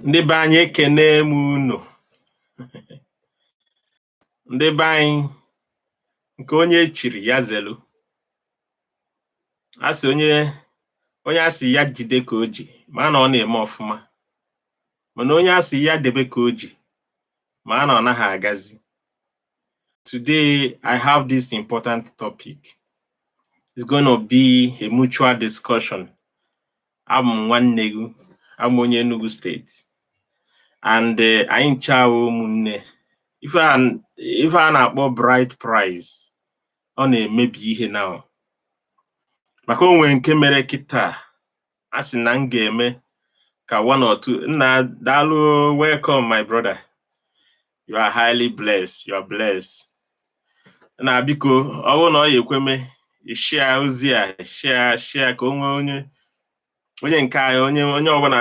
ndị be anyị ekene m unu ndị be anyị nke onye chiri ya zelu a sị onye onye a sị ya jide ka o ji ma na ọ na-eme ọfụma mana onye a sị ya debe ka o ji ma na ọ naghị agazi today i have this important topic it's going to be a mutual discussion abụ m nwanne gị abụ m onye Enugu steeti and eh, anyị ncha wụ ụmụnne ife a n- ife a na-akpọ bride price ọ na-emebi ihe now maka o nwere nke mere kịta a sị na m ga-eme ka one or two nna daalụ welcome my brother you are highly blessed you are blessed nna biko ọ bụrụ na ọ ya-ekwe mee share ozi a share share ka o nwee onye onye nke anyị onye onye ọbụla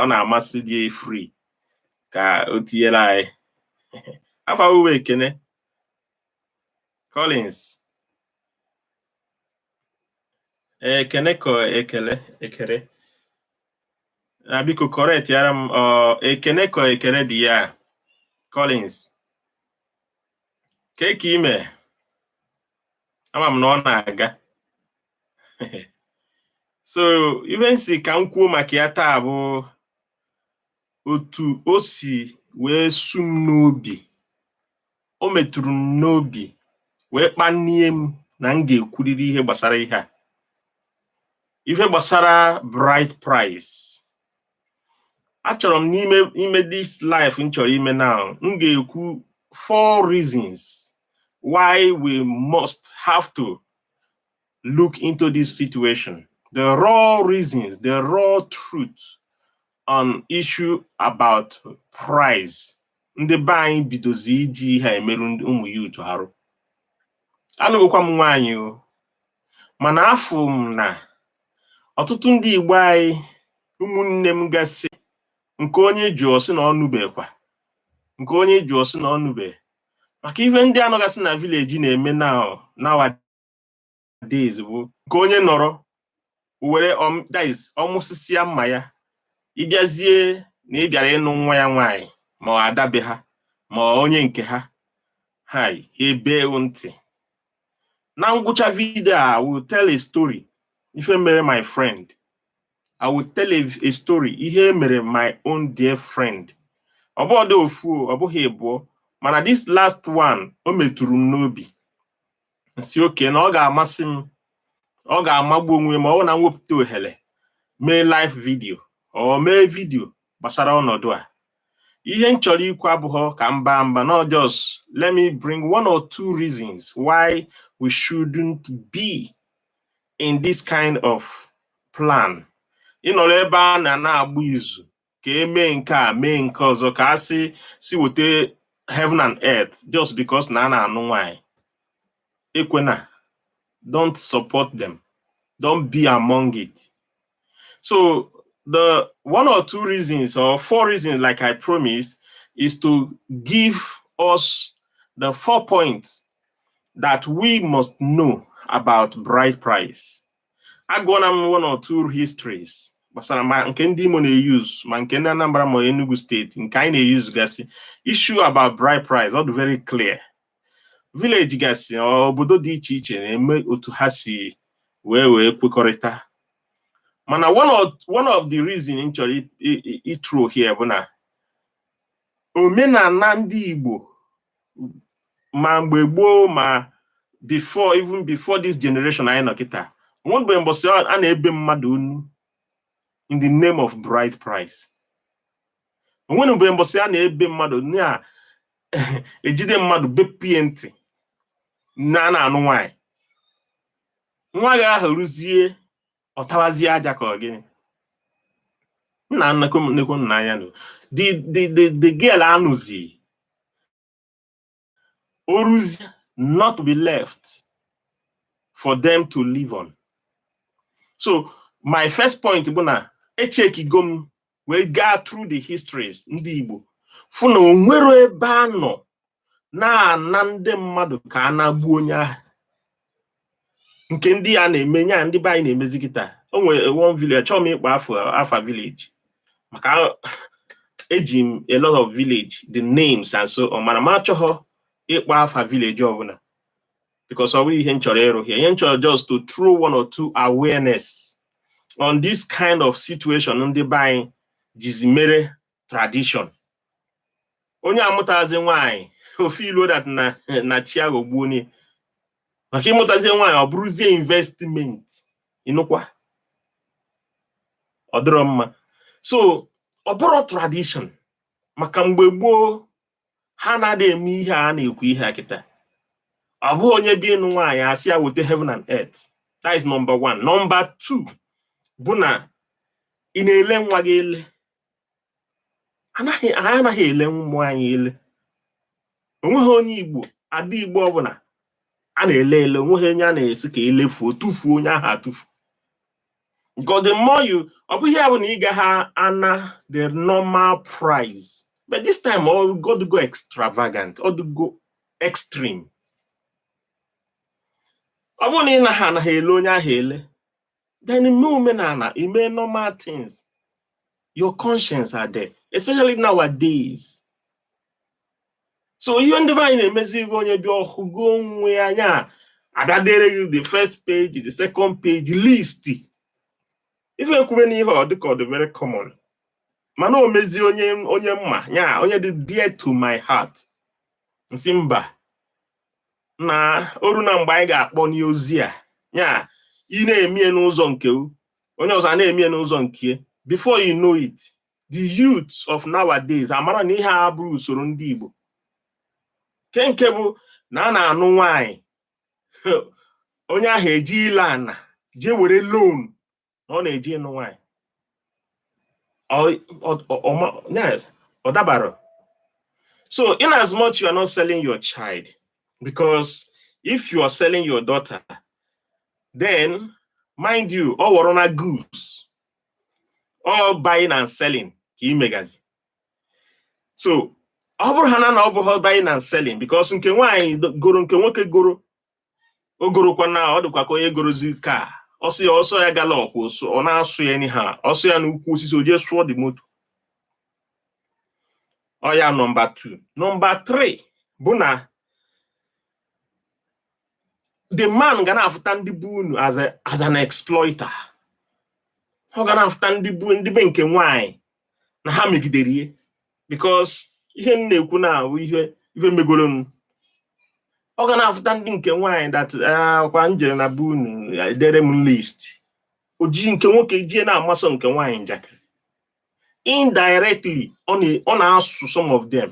ọ na-amasị dị free ka o tinyere anyị afa ọ wụ Ekene Collins Ekene ka ọ Ekele Ekele nna biko correctiara m ọ Ekene ka ọ Ekene dị ya Collins kee ka i me ama m na ọ na-aga so ife m sị ka m kwuo maka ya taa bụ otu o si wee su m n'obi o metụrụ m n'obi wee kpanie m na m ga-ekwurịrị ihe gbasara ihe a ife gbasara bride price achọrọ m n'ime ime this live m chọrọ ime now m ga-ekwu four reasons why we must have to look into this situation the raw reasons the raw truth on issue about price ndị be anyị bidozi iji ihe a emerụ ụmụ youth arụ anụgokwa m nwaanyị o mana afụ m na ọtụtụ ndị Igbo anyị ụmụnne m gasị nke onye jụọ sị na ọ nụbekwa nke onye jụọ sị na ọ nụbe maka ife ndị a nọgasị na vileji na-eme na days bụ nke onye nọrọ nowadays ọ mụsịsịa mma ya ị bịazie na ị bịara ịnụ nwa ya nwaanyị ma ada be ha ma onye nke ha i gebe ntị na ngwụcha vidio I will tell a story ife mere my friend I will tell a, a story ihe mere my own dear friend ọ bụọdị ofu ọ bụghị ịbụọ mana this last one o metụrụ m n'obi m sị okay na ọ ga-amasị m ọ ga-amagbu onwe ma ọ bụ na m wepụta ohere mee live video or mee video gbasara ọnọdụ a ihe m chọrọ ikwu abụghọ ka m baa mba no just let me bring one or two reasons why we shouldn't be in this kind of plan ịnọrọ ebe a na na-agba izu ka e mee nke a mee nke ọzọ ka a sị e weta heaven and earth just because na a na-anụ nwanyị ekwena don't support them don't be among it so the one or two reasons or four reasons like i promised is to give us the four points that we must know about bride price agụọla m one or two histories gbasara ma nke ndị Imo na-euse ma nke ndị Anambra ma Enugu State nke anyị na-euse gasị issue about bride price ọ dị very clear village gasị obodo dị iche iche na-eme otu ha si wee wee kwekọrịta mana one of one of the reason m chọrọ ịthrow here bụ na omenala ndị Igbo ma mgbe gboo ma before even before this generation anyị nọ kịta o nweberọ mbọsị a na-ebe mmadụ onu in the name of bride price o nweberọ mbọsị a na-ebe mmadụ na-ejide mmadụ bepie ntị na a na-anụ nwanyị nwa gị ahụ ruzie ọ tawazie aja ka ọ gịnị nna nnekwu nnekwu nna anya nụ the the the the girl anụzie o ruzie not be left for them to live on so my first point bụ na echekigo m wee gaa through the histories ndị Igbo fụ na o nwerọ ebe a nọ na-ana ndị mmadụ ka a nagbuo onye ahụ nke ndị a na-eme nya ndị be anyị na-emezi kịta o nwere one village achọghọ m ịkpọ afa village maka eji m a lot of village the names and so on mana m achọghọ ịkpọ afa village ọbụla because ọ bụ ihe m chọrọ ịrụ here ihe m chọrọ just to throw one or two awareness on this kind of situation ndị be anyị jizi mere tradition onye amụtazi nwaanyị ọ feeluo that na na chi aghọgbuo onye maka ịmụtazie nwaanyị ọ bụrụzie investment ịnụkwa ọ dịrọ mma so ọ bụrụ tradition maka mgbe gboo ha na-adị eme ihe a na-ekwu ihe a kịta ọ bụ onye bịa ịnụ nwaanyị asị ya wete heaven and earth that is number one number two bụ na ị na-ele nwa gị ele anaghị anyị anaghị ele ụmụ anyị ele onweghị onye igbo ada igbo ọbụla a na-ele ele onweghị onye a na-asị ka elefuo tụfuo onye ahụ atụfu Because the more you, ọ bụghị bụ na ị gaghị ana the normal price. But this time, ọ to go extravagant, ọ to go extreme. Ọ bụrụ na ị naghị anaghị ele onye ahụ ele, then ime omenala, ime normal things, your conscience are there, especially nowadays. so ihe ndị be anyị na-emezi bụ onye bịa ọ hụgo onwe ya nya abịa dere gị the first page the second page list ife ekwube n'ihe ọ dịka ọ dị very common mana o mezie onye onye m ma ya onye dị dear to my heart n sị mba na o runa mgbe anyị ga-akpọ n'ozi a ya ị na-emie n'ụzọ nke onye ọzọ a na-emie n'ụzọ nke before you know it the youth of nowadays amara na ihe a bụrụ usoro ndị Igbo nke nke bụ na a na-anụ nwanyị onye ahụ eje ile ana jee were loan na ọ na-eje ịnụ nwanyị ọ dabara so in as much you are not selling your child because if you are selling your daughter then mind you ọ ghọrọna goods ọ buying and selling ka ị megazi so ọ bụrụ ha na na ọ bụghị buying and selling because nke nwaanyị goro nke nwoke goro o gorokwa na ọ dịkwa ka onye gorozi car ọ sọ ya ọ sọ ya gallop ka ọ na-asụ ya anyhow ọ sọ ya n'ukwu osisi o jee sụọ the moto ọ ya nọmba 2 nọmba 3 bụ na the man ga na-afụta ndị be unu as a as an exploiter ọ ga na-afụta ndị be ndị be nke nwaanyị na ha megidere ya because ihe m na-ekwu na ahụ ihe ihe megoro m ọ ga na-afụta ndị nke nwaanyị that ah, ọkwa m jere na be unu edere m list o ji nke nwoke jie na-amasọ nke nwaanyị njakịrị indirectly ọ na-asụ some of them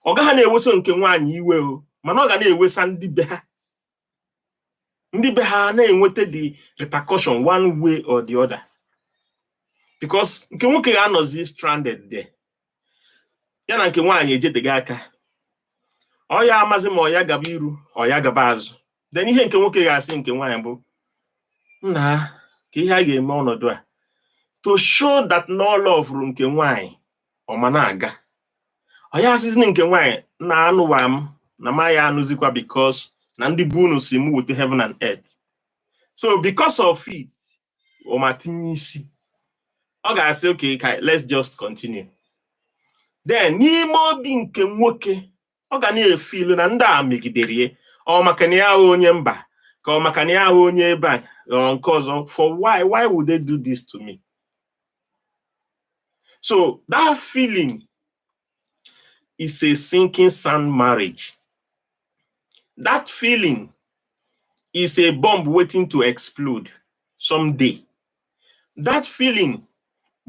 ọ gaghị na-eweso nke nwaanyị iwe o mana ọ ga na-ewesa ndị be ha ndị be ha na-enweta the repercussion one way or the other because nke nwoke ga-anọzi stranded there ya na nke nwaanyị ejedịghị aka ọ ya amazi ma ọ ya gaba iru ọ ya gaba azụ then ihe nke nwoke ga-asị nke nwaanyị bụ nna ka ihe a ga-eme ọnọdụ a to show that na ọ lovuru nke nwaanyị ọ ma na-aga ọ ya asịzi nke nwaanyị na anụwa m na m aya anụzikwa because na ndị be unu si m wute heaven and earth so because of it ma tinye isi ọ ga-asị okay let's just continue then n'ime obi nke nwoke ọ ga na-efeelu na ndị a megidere ya ọ maka na ya wụ onye mba ka ọ maka na ya wụ onye ebe a nke ọzọ for why why would they do this to me so that feeling is a sinking sand marriage. That feeling is a bomb waiting to explode someday. That feeling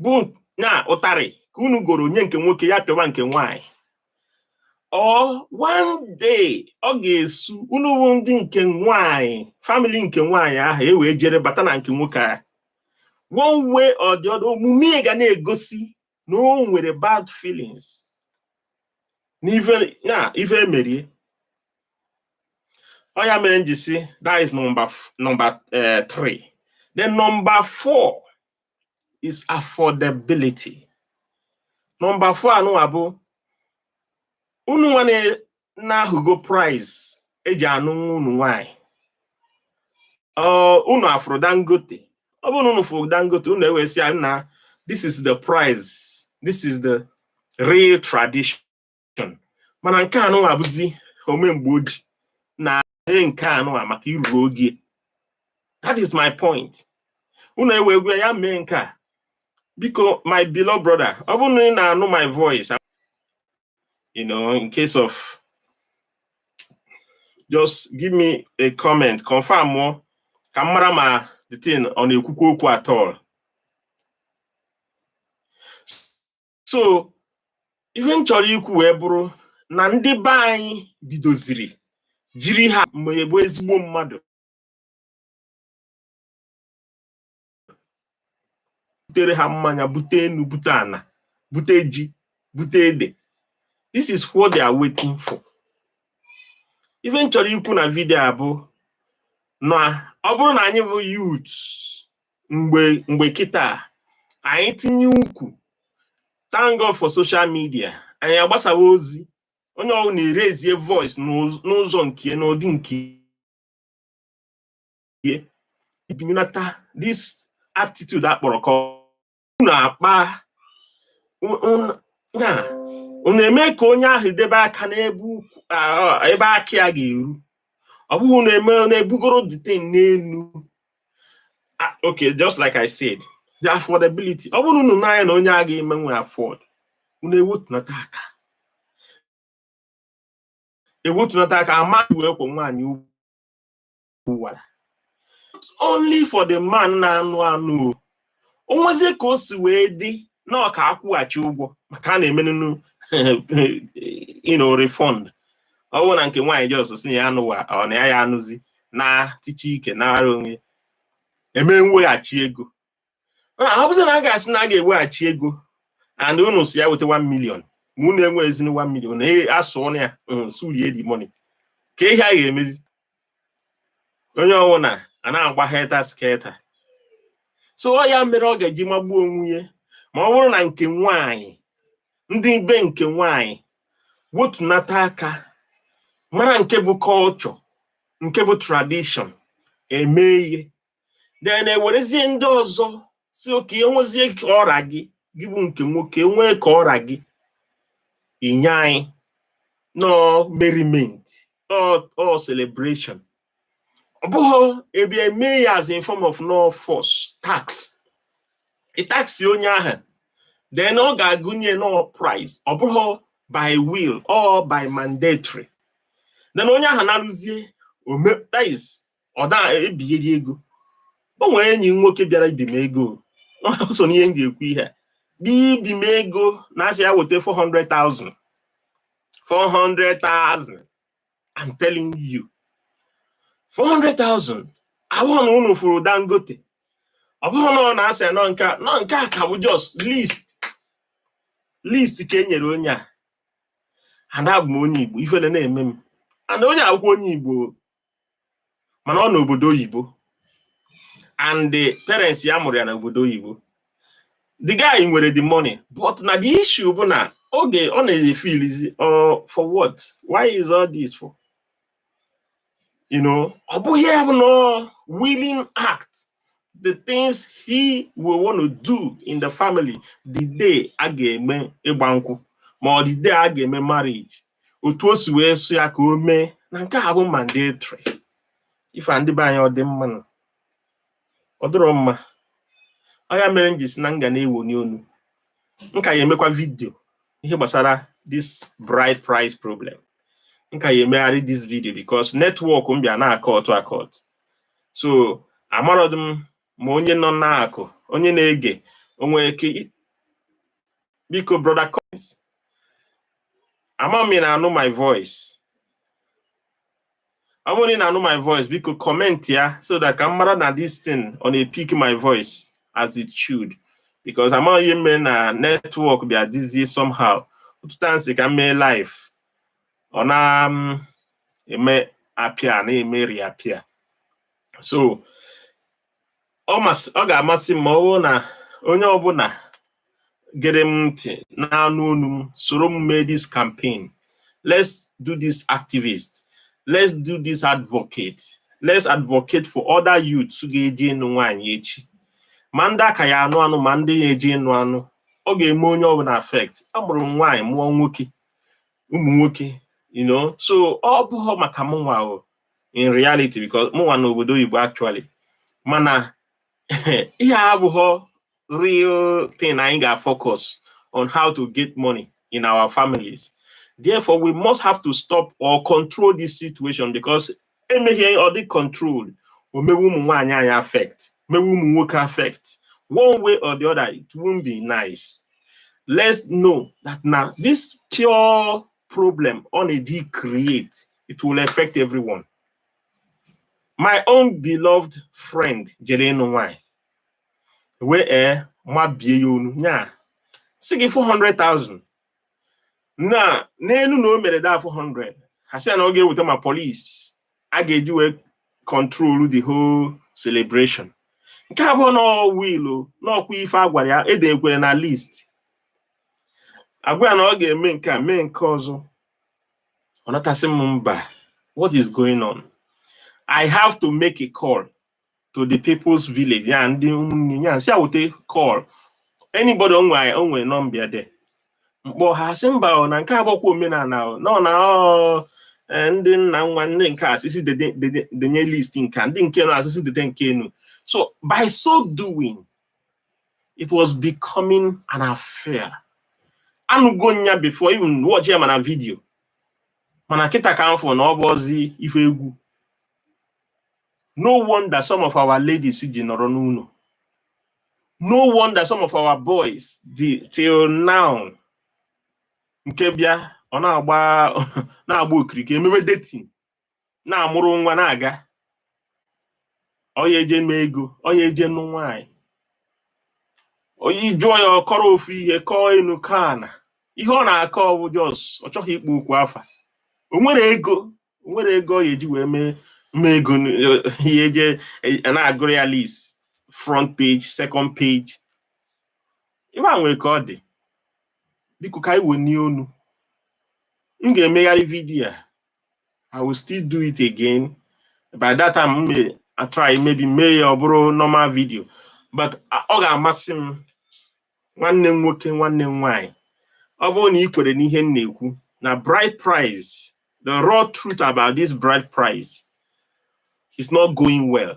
bụ na ụtarị ka unu goro nye nke nwoke ya pịawa nke nwanyị or one day ọ ga-esu unu bụ ndị nke nwanyị family nke nwanyị ahụ e wee jere bata na nke nwoke a one way or the other omume ga na-egosi na o nwere bad feelings n'ife ya ife e merie ọ ya mere m ji sị that is number number uh, three then number four is affordability number four a nụnwa bụ unu nwa na-ahụgo price e ji anụ nwa unu nwanyị unu afụrọ Dangote ọ bụrụ na unu fụrụ Dangote unu ewee sị ya nna this is the price this is the real tradition mana nke a nụnwa abụzi ome mgbe o ji na ee nke a nụnwa maka i ruru ogo ya that is my point unu ewee gwa ya mee nke a biko my beloved brother ọ bụrụ na ị na-anụ my voice you know, in case of just give me a comment, confirmụọ. Ka m mara ma the thing ọ na-ekwukwu okwu at all. So ife m chọrọ ikwu wee bụrụ na ndị be anyị bidoziri jiri ha emegbu ezigbo mmadụ butere ha mmanya bute enu bute ana bute ji bute ede this is what they are waiting for ife m chọrọ ikwu na video a bụ na ọ bụrụ na anyị bụ youth mgbe mgbe kịta anyị tinye ụkwụ thank God for social media anyị agbasawa ozi onye ọbụla na-eraise voice n'ụzọ nke n'ụdị nke ihe ibinyelata this attitude akpọrọ ka unu akpa ya unu eme ka onye ahụ debe aka n'ebe aka ya ga-eru ọ bụghị unu ebugoro the thing n'elu ah, okay just like I said the affordability ọ bụrụ unu n'anya na onye a ga-emenwu afford unu ewetunata aka ewetunata aka amaghị wee kwụ nwaanyị ugwu kwuwara only for the man na-anụ anụ o nwezie ka o si wee dị na ọ ka akwụghachi ụgwọ maka a na-emenunu nnọọ refund ọ bụrụ na nke nwaanyị just sị na ya anụwa ọ na ya ya anụzi na tiche ike na ara onwe eme mweghachi ego ọ bụzi na a ga-asị na a ga-eweghachi ego and unu sị ya weta 1 million ma unu enwe ezinu 1 million asụọ na ya hmm, surie the money ka ihe a ga-emezi onye ọbụla a na-agba helter skelter so ọ ya mere ọ ga-eji magbuo onwe ya ma ọ bụrụ na nke nwanyị ndị be nke nwanyị wetunata aka mara nke bụ culture nke bụ tradition eme ihe then ewerezie ndị ọzọ sị okay enwezie ka ọ ra gị gị bụ nke nwoke nwee ka ọ ra gị inye anyị nnọọ merriment or celebration ọ bụghị ebe eme ya as in form of nnọọ force tax ịtaksi onye ahụ then ọ ga-agụnye nnọọ price ọ bụghị by will ọ by mandatory then onye ahụ na-arụzie overtimes ọ da ebigheri ego o nwere enyi m nwoke bịara ibi m ego o so n'ihe m ga-ekwu ihe a. bịa ibi m ego na a sị ya weta 400,000 400,000 I'm telling you 400,000 ọ bụghị na unu fụrụ Dangote ọ bụghị na ọ na-asị ya nọ nke a nọ nke a ka bụ just list list ka e nyere onye a and abụ m onye Igbo ifele na-eme m and onye a bụkwa onye Igbo mana ọ n'obodo oyibo and the parents ya mụrụ ya n'obodo oyibo the guy nwere the money but na the issue bụ na oge ọ na-efilizi uh, for what why is all this for you know ọ bụghị ya bụ nnọọ willing act the things he will want to do in the family the day a ga-eme ịgba nkwụ ma ọ the day a ga-eme marriage otu o si wee sụ ya ka o mee na nke a bụ mandatory ife a ndị be anyị ọ dị mma na ọ dịrọ mma ọ ya mere m ji sị na m ga na-ewoni onu m ka ya emekwa vidio ihe gbasara this bride price problem m ka ya emegharị this video because netwọk m bịa na-akọtụ akọt so amarodị m ma onye nọ n'akụ onye na-ege o nwere ike biko brọda Collins ama m ị na-anụ my voice ọ bụrụ na ị na-anụ my voice biko kọmentị ya so that ka m mara na this thing ọ na-epik my voice as it should because amaghị ihe mere na netwọk bịa dịzie somehow ụtụta m sị ka m mee live ọ na-eme mm, appear na-eme reappear so ọ ga-amasị m ma ọ bụrụ na onye ọbụna gere m ntị na-anụ onu m soro m mee this campaign let's do this activist let's do this advocate let's advocate for other youths ga-eje ịnụ nwaanyị echi ma ndị a ka ya-anụ anụ ma ndị ya-eje ịnụ anụ ọ ga-eme onye ọbụna affect amụrụ m nwaanyị mụọ nwoke ụmụ nwoke you know so ọ bụghọ maka mụnwa in reality because mụnwa nọ obodo oyibo actually mana ihe a abụghọ real thing anyị ga-focus on how to get money in our families therefore we must have to stop or control this situation because emeghị ọ dị controlled o mewe ụmụ nwaanyị anyị affect mewe ụmụ nwoke affect one way or the other it won't be nice let's know that na this pure problem on a decreate it will affect everyone my own beloved friend jere ịnụ nwanyị e wee ee eh, mabie ya ọnụ nya sị gị 400,000 na n'enu na o mere the 400 ha sị na ọ ga-eweta ma polisi a ga-eji wee control the whole celebration nke abụọ na wilu n'ọkwa ife a gwara ya e dekwere na list a gwa ya na ọ ga-eme nke a mee nke ọzọ ọ nata sị m mba what is going on i have to make a call to the people's village ya ndị ụmụnne ya si awute call anybody o nwe o nwe nọmba there m kpọọ ha sị mba o na nke a abụọkwa omenana ọ nọ na ọ eh, ndị nna nwa ndị nke asịsị dede- dede- denye list nke a, ndị nke nọ asịsị dede nke enu so by so doing it was becoming an affair anụgo m ya before even watch ya ma na vidio mana kịta ka m fụ na ọ bụzi ife egwu no wonder some of our ladies ji nọrọ n'ụnọ no wonder some of our boys till now nke bịa ọ na-agba na-agba okirikiri emewe dating na-amụrụ nwa na-aga ọ ya-eje mee ego ọ ya-eje nụ nwaanyị onye jụọ ya ọ kọrọ ofu ihe kọọ enu kọọ ana ihe ọ na-akọ ọ bụ just ọ chọghị ịkpọ okwu afa o nwere ego o nwere ego ọ ga-eji wee mee ego ihe eje e, na-agụrụ ya list front page second page ibe a nwere ka ọ dị biko ka anyị wenie onu m ga-emegharị vidiyo a I will still do it again. By that time, mụ a try maybe mee ya ọ bụrụ normal video. But a- ọ ga-amasị m nwanne m nwoke nwanne m nwaanyị ọ bụrụ na ị kwere n'ihe m na-ekwu na bride price the raw truth about this bride price is not going well.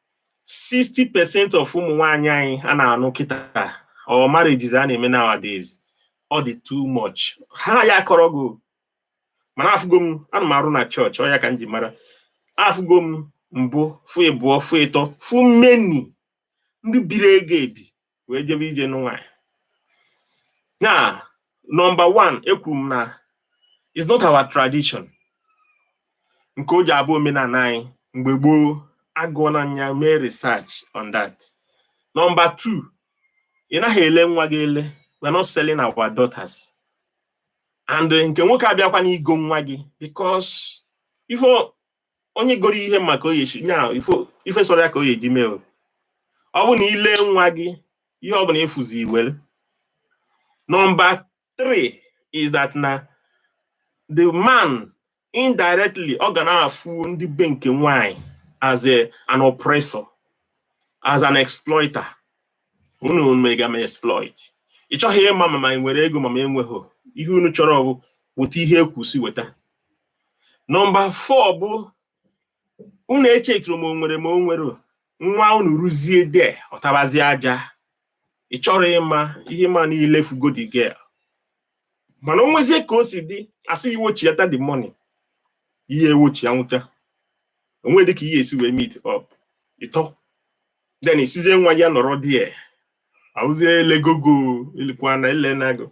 60 percent of ụmụ nwaanyị anyị a na-anụ kịta or marriages a na-eme nowadays ọ dị too much ha ya akọrọ gị mana afụgo m ana m arụ na chọọchị ọ ya ka m ji mara afụgo m mbụ fụ ịbụọ fụ ịtọ fụ many ndị biri ego ebi wee jebe ije nụ nwaanyị now nọmba one ekwuru m na is not our tradition nke o ji abụ omenana anyị mgbe gboo agụọna m ya mee research on that nọmba two ị naghị ele nwa gị ele we're not selling our daughters and nke nwoke abịakwa n'igo nwa gị because ife onye goro ihe maka ọ ya-eche na ife sọrọ ya ka ọ ya-eji mee o ọ bụ na i lee nwa gị ihe ọ bụna ị fụzi i were nọmba 3 is that na the man indirectly ọ ga na-afụ ndị be nke nwanyị as a, an oppressor as an exploiter unu mega m exploit ị chọghị ịma ma m nwere ego ma m enweghị ihe unu chọrọ bụ weta ihe ekwusi weta nọmba four bụ unu echetụrụ ma o nwere ma o nwere nwa unu ruzie there ọ tabazi aja ị chọrọ ịma ihe ma niile fugo the girl mana o nwezie ka o si dị asị iwochi ya ta the money ihe ewochi ya nwụta onwe dịka ihe e si wee meet up ịtọ then ị sịzie nwa gị nọrọ there ahụzie elegogo elekwana elenago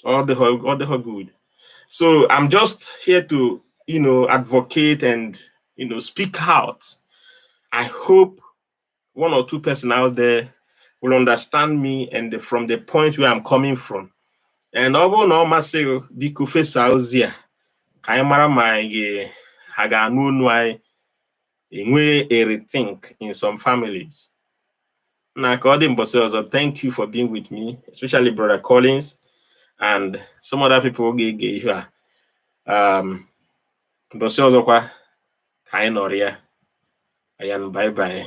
Ọ dịhọ good. So I'm just here to you know advocate and you know speak out. I hope one or two person out there will understand me and the, from the point where I'm coming from. And ọ bụrụ na ọ masị gị biko fesa ozi a ka anyị mara ma anyị ga- ha ga-anụ onu anyị enwe a rethink in some families. na ka ọ dị mbọsị ọzọ thank you for being with me especially brother Collins and some other people ga-ege ihe a um, mbọsị ọzọkwa ka anyị nọrịa and bye bye